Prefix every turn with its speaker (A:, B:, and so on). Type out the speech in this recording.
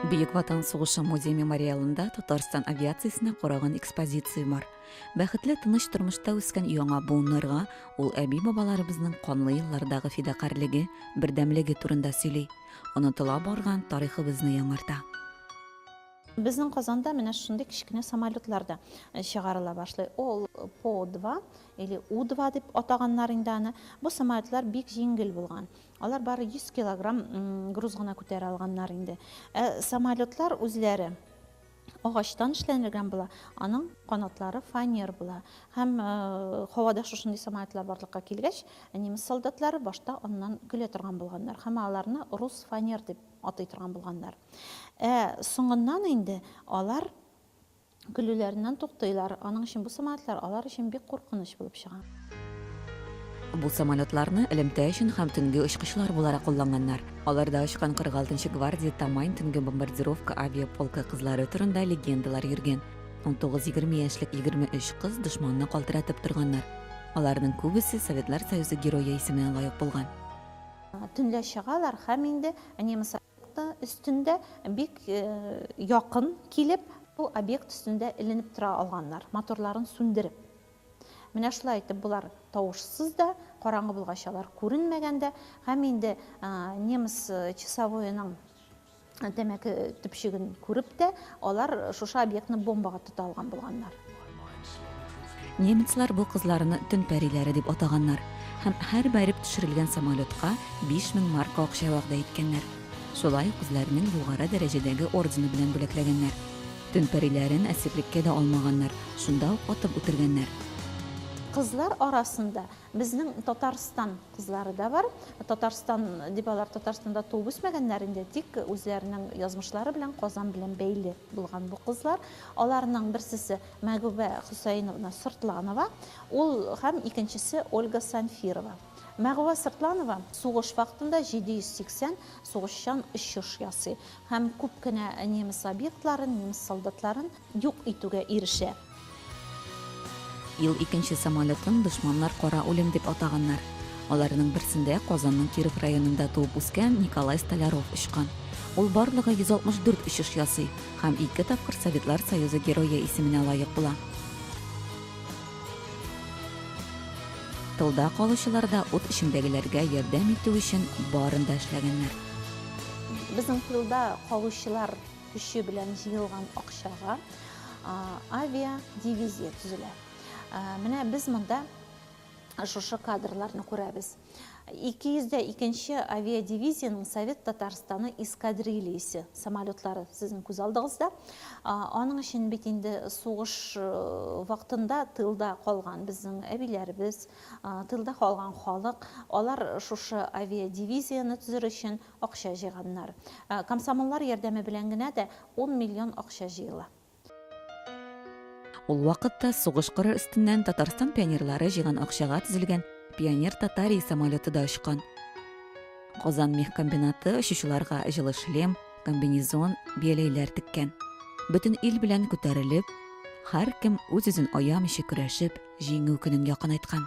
A: Бөек Ватан сугышы музей-мемориалында Татарстан авиациясенә караган экспозиция бар. Бәхетле тыныч тормышта үскән яңа буыннарга ул әби-бабаларыбызның канлы еллардагы фидакарьлеге, бердәмлеге турында сөйли. Онытыла барган тарихыбызны яңарта. Безнең Казанда менә шундый кечкенә самолетлар да э, чыгарыла башлый. Ул По-2 или У-2 дип атаганнар инде аны, бу самолетлар бик җиңел булган. Алар бары 100 килограмм груз гына күтәрә алганнар инде. Ә самолетлар үзләре агачтан эшләнелгән була, аның канатлары фанер була. Һәм һавада шушындый самолетлар барлыкка килгәч, немец солдатлары башта аннан көлә торган булганнар һәм аларны рус фанер дип атый торган булганнар. Ә соңыннан инде алар Көлүләреннән туктыйлар. Аның өчен бу самолетлар алар өчен бик куркыныч булып чыга. Бу самолетларны элемтә өчен һәм төнге очкычлар буларак кулланганнар. Аларда очкан 46-нчы гвардия Тамань төнге бомбардировка авиаполкы кызлары турында легендалар йөргән. Унтугыз егерме яшьлек егерме өч кыз дошманны калтыратып торганнар. Аларның күбесе Советлар Союзы Герое исеменә лаек булган. Төнлә чыгалар һәм инде немецлар. Нокта өстендә бик якын килеп, бу объект өстендә эленеп тора алганнар, моторларын сүндереп. Менә шулай итеп болар тавышсыз да, караңгы булгач алар күренмәгән дә, һәм инде немец часовоеның тәмәке төпчеген күреп тә, алар шушы объектны бомбага тота алган булганнар. Немецлар бу кызларны төн пәриләре дип атаганнар һәм һәр бәреп төшерелгән самолетка 5000 марка акча вәгъдә иткәннәр. Шулай ук үзләренең югары дәрәҗәдәге ордены белән бүләкләгәннәр. Төн пәриләрен әсирлеккә дә алмаганнар, шунда ук атып үтергәннәр. Кызлар арасында безнең Татарстан кызлары да бар. Татарстан дип алар Татарстанда туып үсмәгәннәр инде, тик үзләренең язмышлары белән Казан белән бәйле. булган бу кызлар. Аларның берсесе Мәгүбә Хөсәеновна Сыртланова, ул һәм икенчесе Ольга Санфирова. Мәгүбә Сыртланова сугыш вакытында 780 сугышчан очыш ясый һәм күп кенә немец объектларын, немец солдатларын юк итүгә ирешә. Ел икенче самолетын дошманнар кара үлем дип атаганнар. Аларның берсендә Казанның Киров районында туып үскән Николай Столяров очкан. Ул барлыгы 164 очыш ясый һәм ике тапкыр Советлар Союзы Герое исеменә лаек була. Тылда калучылар да ут эчендәгеләргә ярдәм итү өчен барын да эшләгәннәр. Безнең тылда калучылар Көче белән җыелган акчага авиадивизия төзелә. Менә без монда шушы кадрларны күрәбез. 202 нче авиадивизиянең Совет Татарстаны эскадрильясе самолетлары сезнең күз алдыгызда. Аның өчен бит инде сугыш вакытында тылда калган безнең әбиләребез, тылда калган халык, алар шушы авиадивизияне төзер өчен акча җыйганнар. Комсомоллар ярдәме белән генә дә ун миллион акча җыела. Ул вакытта сугыш кыры өстеннән Татарстан пионерлары җыйган акчага төзелгән Пионер Татарии самолеты да очкан. Казан мехкомбинаты очучыларга җылы шлем, комбинезон, бияләйләр теккән. Бөтен ил белән күтәрелеп, һәркем үз-үзен аямыйча көрәшеп, Җиңү көнен якынайткан.